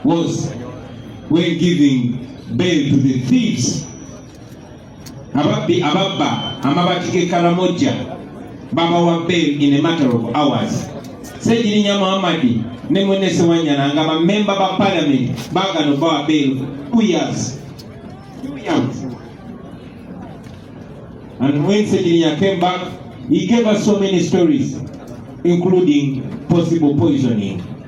was we're giving bail to the thieves ababbi ababba amabati g'ekaramoja babawa bail in a matter of hours segirinya muhammadi ne mwene sewanyana nga bamemba ba parliament bagano bawa bail two years two years and when segirinya came back he gave us so many stories including possible poisoning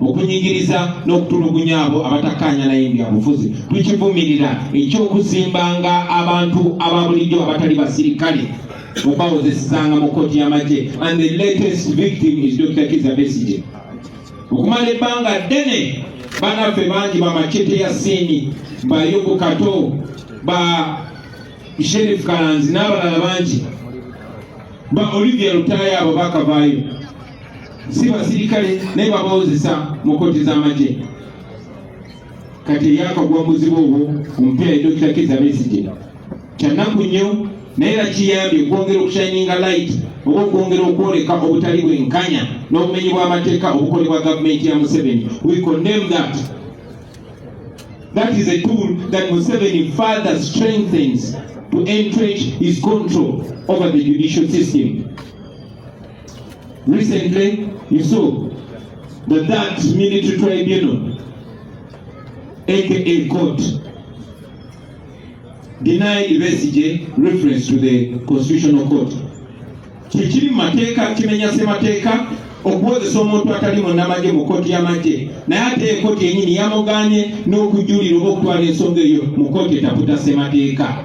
okunyigiriza n'okutulugunya abo abatakkaanya naye byabufuzi tukivumirira ekyokuzimbanga abantu aba bulijjo abatali basirikale okubawozesezanga mu kkooti y'amagye and the latest victim is dr kiza besige okumala ebbanga ddene banaffe bangi bamacete ya siini bayubu kato ba sherif kalanzi n'abalala bangi ba olivia lutaaya abo bakavaayo si basirikale naye babawozesa mu kkooti z'amagye kati eyakagwa muzibu obwo omupira ye dokita kiza besigye kyannaku nnyo naye era kiyambye okwongera okushininga light oba okwongera okwoleka obutali bwenkanya n'obumenyi bw'amateeka obukolebwa gavumenti ya museveni we condemn that that is a tool that museveni further strengthens to entrench his control over the judicial system Recently, you saw that that military tribunal, aka court, denied Besigye reference to the constitutional court. Kikiri mateeka kimenya semateeka okuwozesa omuntu atali munnamagye mu kkooti y'amagye naye ate ekooti yenyini yamuganye n'okujulira oba okutwala ensonga eyo mu kkooti etaputa semateeka.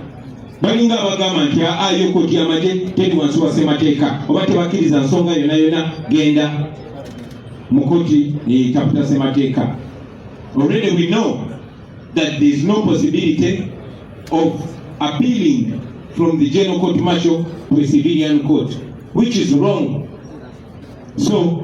balinga abagamba nti ayo koti amagye teri wansi wa ssemateeka oba tebakkiriza nsonga yona yona genda mu koti neyetaputa ssemateeka already we know that there is no possibility of appealing from the general court martial to a civilian court which is wrong so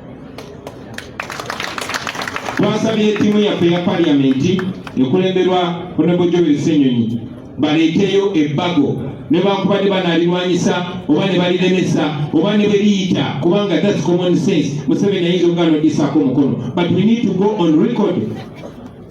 twasabye ttiimu yaffe ya paliyamenti ekulemberwa honorable joel senyonyi baleeteyo ebbago nebankubadde banalirwanyisa oba nebaliremesa oba nebeliyita kubanga thats common sense museveni ayinza okuganodisako omukono but we need to go on record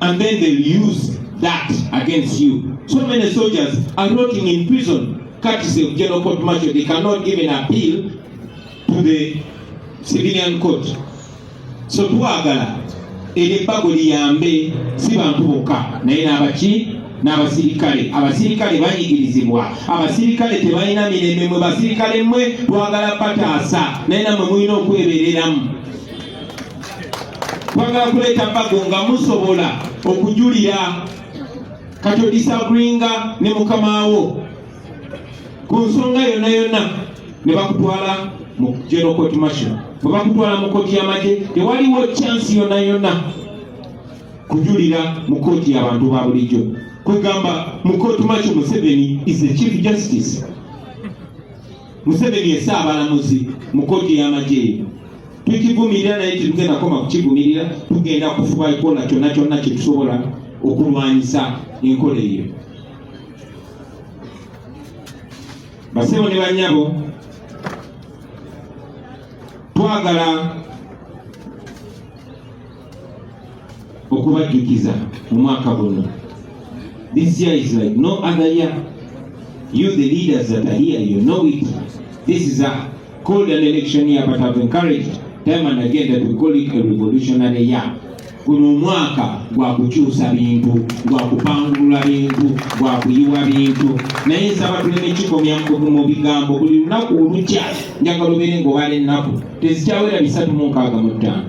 and then they use that against you. So many soldiers are rotting in prison, courtesy of general court martial. They cannot even appeal to the civilian court. So twagala ebyebbago liyambe si bantu bokka naye n'abaki n'abasirikale abasirikale banyigirizibwa abasirikale tebalina mirembe mwe basirikale mwe twagala bataasa naye namwe mulina okwebereramu twagala kuleeta bago nga musobola okujulira katyo disagringa ne mukamaawo ku nsonga yonna yonna ne bakutwala mu general court martial bwe bakutwala mu kooti y'amagye tewaliwo chance yonna yonna kujulira mu kooti y'abantu ba bulijjo kwegamba mu kooti martial museveni is the chief justice Museveni ye Ssaabalamuzi mu kkooti y'amagye eno. Tukivumirira naye tetugenda kukoma kukivumirira, tugenda kufuba kukola kyonna kyonna kye tusobola okulwanyisa enkola eyo. Basebo ne bannyabo, twagala okubajjukiza omwaka guno this year is like no other year you the leaders that are here you know it this is a called an election year but I've encouraged time and again that we call it a revolutionary year guno omwaka gwa kukyusa bintu gwa kupangulula bintu gwa kuyiwa bintu naye nsaba tuleme kikomya mu bigambo buli lunaku olukya njagala obeere nga obala ennaku tezikyawera bisatu mu nkaaga mu ttaano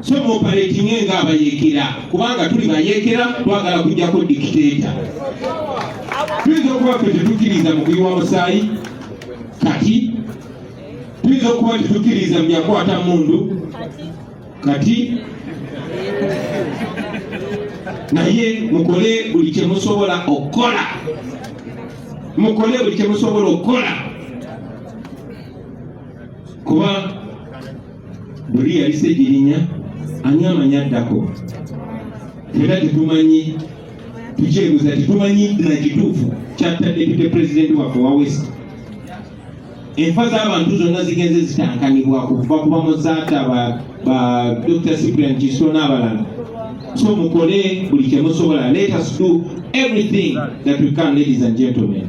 so muoperatinge nga abayekera kubanga tuli bayekera twagala kujjako dikiteeta tuyinza okuba ffe tetukkiriza mu kuyiwa musaayi kati tuyinza okuba tetukkiriza mu byakwata mundu kati naye mukole buli kyemusobola okukola mukole buli kyemusobola okukola kuba buli yalise girinya ani amanyi addako era tetumanyi tukyebuza tetumanyi na kituufu kyatta depute pulezidenti waffe wa west enfa z'abantu zonna zigenze zitankanibwa kuva ku bamuzaata ba dr cyprian kiso n'abalala so mukole buli kyemusobola let us do everything that we can ladies and gentlemen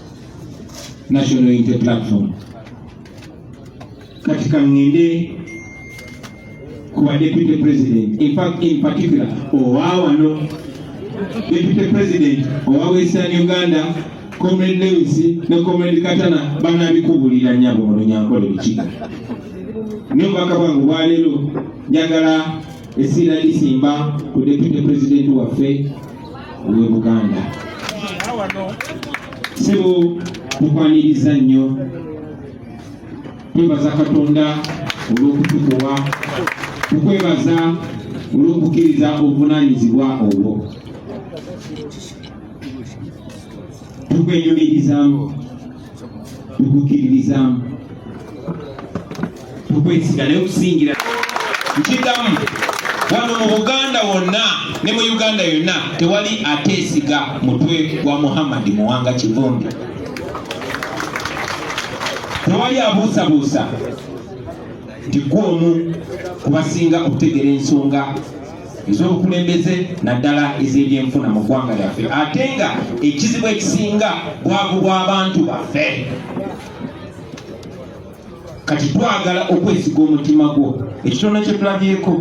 National Unity Platform. Katika ngende kwa deputy president, in fact in particular owawano deputy president owa Western Uganda Comrade Lewis ne Comrade Katana banabikubulira nyabo olunyankole bikiga ne obubaka bwange bwaleero njagala esiira lisimba ku deputy president waffe ow'e Buganda. Ssebo tukwaniriza nnyo twebaza Katonda olw'okutukuwa tukwebaza olw'okukkiriza obuvunaanyizibwa obwo tukwenyumirizamu tukukkiririzaamu tukwesiga naye okusingira nkigamu wano mu buganda wonna ne mu uganda yonna tewali ateesiga mutwe gwa muhammadi muwanga kivumbi tewali abuusabuusa nti gwe omu kubasinga okutegeera ensonga ez'obukulembeze naddala ez'ebyenfuna mu ggwanga lyaffe ate nga ekizibu ekisinga bwavu bw'abantu baffe kati twagala okwesiga omutima gwo ekitone kye tulabyeko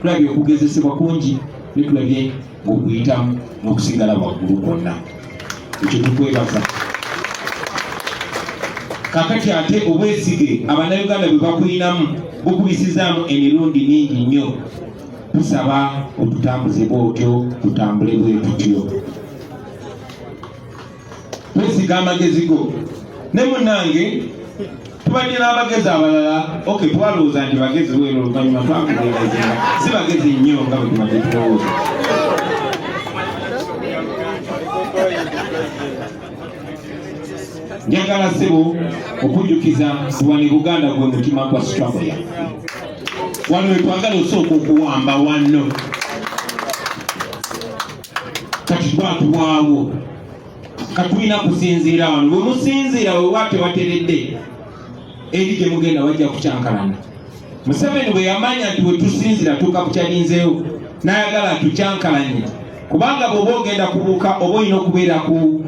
tulabye okugezesebwa kungi ne tulabye ng'okuyitamu n'okusigala waggulu kwonna ekyo tukwebaza kakati ate obwesige abannayuganda bwe bakulinamu bukubisizaamu emirundi mingi nnyo tusaba otutambuze bwotyo tutambule bwe tutyo wesiga amagezi go ne munange tubadde n'abagezi abalala ok twalowooza nti bagezi bwera oluvanyuma twakugeegezinga si bagezi nnyo nga bwe tubadde tulowooza njagala sebo okujjukiza wani buganda gwe mutima gwa struggle ya wano wetwagala osooka okuwamba wanno kati twatubwawo katulina kusinziira wano bwe musinziira wewa tebateredde eri gye mugenda wajja kukyankalana museveni bwe yamanya nti wetusinziira tuuka kukyalinzeewo n'ayagala tukyankalanye kubanga bweoba ogenda kubuuka oba olina okubeera ku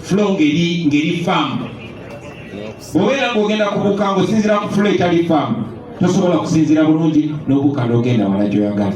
flo ngeri ngeri faamu bweobeera ngaogenda kubuuka ngaosinziira ku flo etali faamu tosobola kusinziira bulungi n'obuuka n'ogenda wala gyoyagala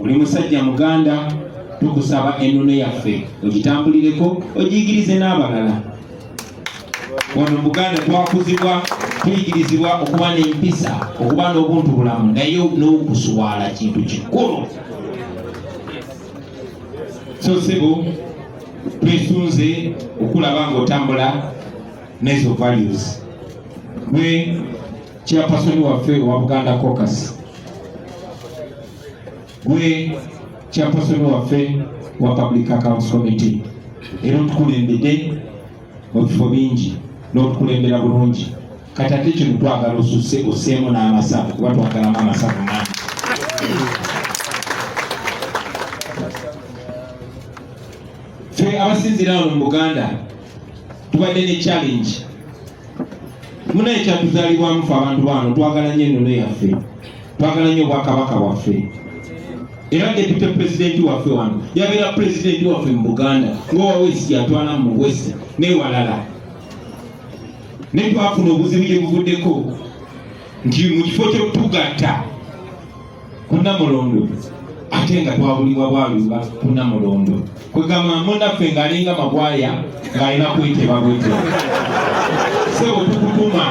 oli musajja muganda tukusaba ennono yaffe ogitambulireko ogiyigirize n'abalala wano muganda twakuzibwa tuyigirizibwa okuba n'empisa okuba n'obuntu bulamu naye n'okuswala kintu kikulu so sebo twesunze okulaba ngaotambula nezo values gwe kyapasoni waffe owa buganda cocas gwe chairperson waffe wa public accounts committee era otukulembedde mu bifo bingi n'otukulembera bulungi kati ate kino twagala osusse osseemu n'amasavu kuba twagalamu amasavu mangi ffe abasinzira wano mu buganda tubadde ne challenge munaye kyatuzalibwamu fe abantu baano twagala nyo ennono yaffe twagala nyo obwakabaka bwaffe era depute pulezidenti waffe wano yabeera pulezidenti waffe mu buganda ngaowawesi yatwala mu wesi newalala naye twafuna obuzibu gye buvuddeko nti mu kifo kyokutugatta kunamulondo ate nga twabulibwa bwaluba kunamulondo kwegamba munaffe ng'alinga magwaya ng'alina kweteba bweteba se otukutuma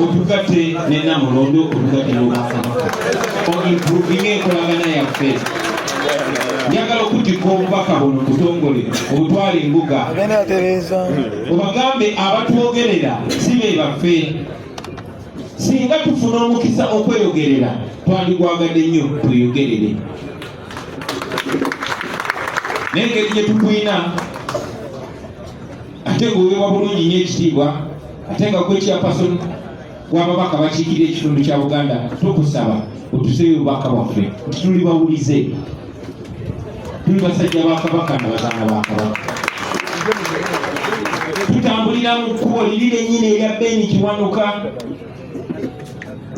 otugatte ne namulondo otugatte n'obwakabaka oimprovinga enkolagana yaffe njagala okutikka obubaka buno butongole obutwala embuga obagambe abatwogerera si be baffe singa tufuna omukisa okweyogerera twandigwagadde nnyo tweyogerere naye engeri gye tukulina ate ngaoweebwa bulungi nyo ekitiibwa ate nga gwekyapason wababaka bakiikirira ekitundu kya buganda tukusaba otuseeyo obubaka bwaffe nti tuli bawulize tuli basajja ba kabaka na bazaana ba kabaka tutambulira mu kkubo liri lennyini erya beni kiwanuka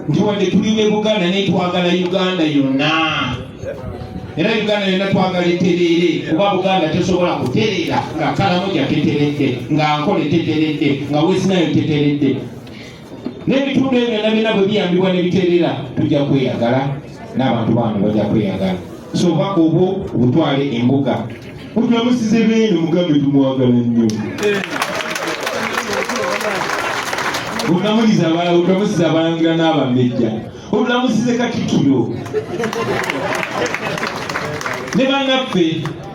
nti wadde tuli ne buganda naye twagala uganda yonna era uganda yonna twagala etereere kuba buganda tesobola kutereera nga kalamoja teteredde nga nkole teteredde nga wesinayo teteredde n'ebitundu ebyo byonna byonna bwe biyambibwa ne biterera tujja kweyagala n'abantu baano bajja kweyagala so obubaka obwo obutwale embuga ogamusize beene mugambe tumwagala nnyo ogamuliza ogamusiza abalanga n'abamejja ogamusize katikiro ne bannaffe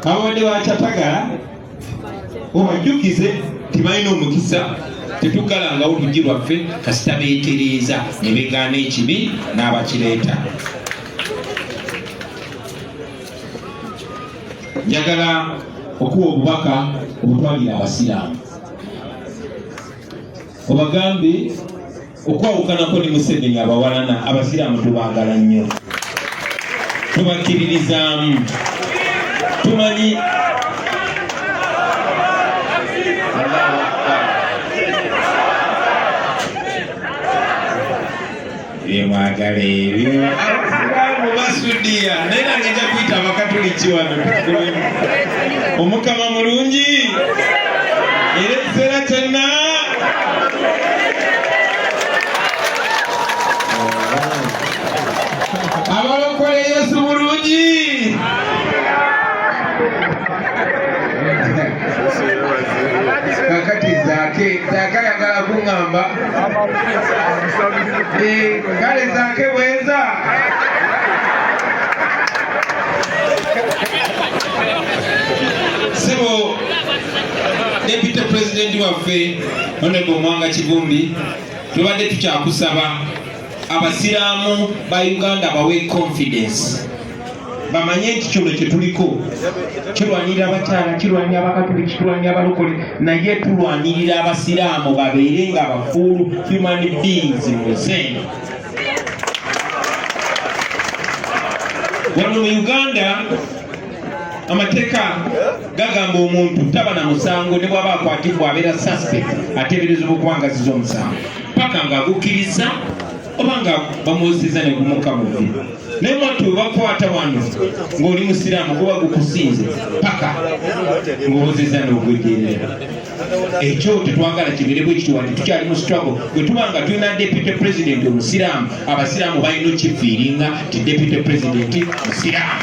ababadde bakyatagala obajjukize tibalina omukisa tetugalangawo luggi lwaffe kasita beetereeza ne begaana ekibi n'abakireeta njagala okuwa obubaka obutwalira abasiraamu obagambe okwawukanako ne museveni abawalana abasiraamu tubaagala nnyo tubakkiririzaamu tumanyi byemwagala ebyo abasiraamu basudiya naye nange nja kuyita abakatuliki wano tukulemu omukama mulungi era ekiseera kyonna abalokole yesu bulungi kakati zake zaka yagala kuŋamba eh, kale zake bweza Deputy President waffe Honorable Mwanga Kivumbi tubadde tukyakusaba abasiraamu ba Uganda bawe confidence bamanye nti kino kyetuliko kirwanirira abakyala kirwanira abakatuliki kirwanira abalokole naye tulwanirira abasiraamu babeere nga abafuulu human beings muzeeno wano mu uganda amateeka gagamba omuntu taba na musango ne bwaba akwatibwa abeera suspect ateeberezebwa okubangaziza omusango paka nga agukkiriza oba nga bamuwusiza ne gumuka bubi naye mwattu webakwata wano ng'oli musiraamu guba gukusinze paka ng'obuziza n'ogwejeerera ekyo tetwagala kibeere bwe kityo wanti tukyali mu struggle bwe tuba nga tulina deputy president omusiraamu abasiraamu balina okifiiringa ti deputy president musiraamu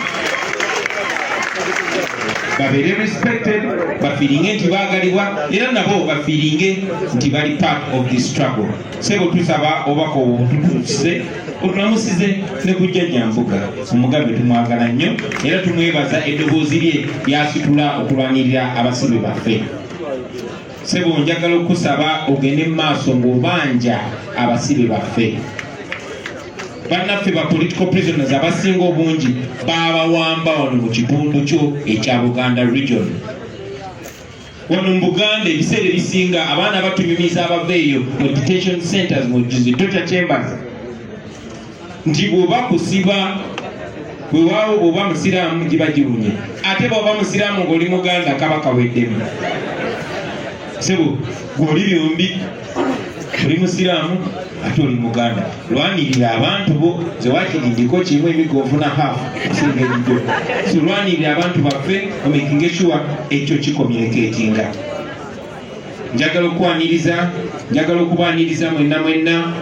babeere respected bafiiringe nti baagalibwa era nabo bafiiringe nti bali part of this struggle sebo tusaba obubaka obwo bututuusize otulamusize ne kujja nyambuga omugambe tumwagala nnyo era tumwebaza eddoboozi lye lyasitula okulwanirira abasibe baffe sebo njagala okukusaba ogende mu maaso ng'obanja abasibe baffe bannaffe ba political prisoners abasinga obungi baabawamba wano mu kitundu kyo ekya buganda region wano mu buganda ebiseera ebisinga abaana batunyumiza abava eyo mu detention centers mu torture chambers nti bwoba kusiba wewaawo bwoba musiraamu giba giwunye ate bwoba musiraamu ng'oli muganda kaba kaweddemu sebo gwoli byombi oli musiraamu ate oli muganda lwanirira abantu bo zewakiri ndiko kimu emigo ofuna hafu osinga ebijo so lwanirira abantu baffe omekinga ekiwa ekyo kikomyuneketinga njagala okukwaniriza njagala okubaniriza mwenna mwenna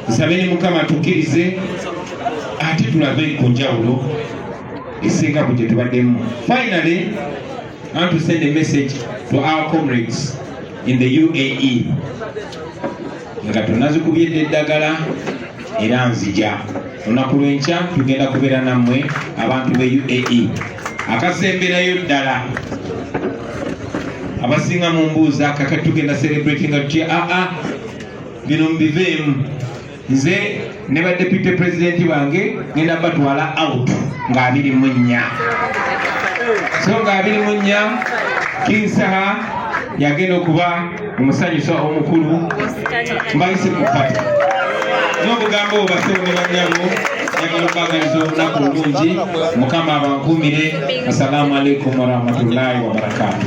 nsabe ne mukama tukirize ate tulabe ku njawulo esinga ku gye tubaddemu finally antusende message to our comrades in the UAE nga tunazikumyedde eddagala era nzija olunaku lwenkya tugenda kubeera nammwe abantu be UAE akasemberayo ddala abasinga mu mbuuza kakati tugenda celebratinga tutya aa ah, ah, bino mubiveemu nze ne ba deputy president bange ngenda batwala out nga abiri mu nnya so nga abiri mu nnya kinsaha yagenda okuba omusanyusa omukulu mbayise ku pata n'obugambo obubasebo ne banyabo njagala okubaagaliza olunaku olungi mukama abankuumire assalamu alaikum warahmatullahi wabarakatu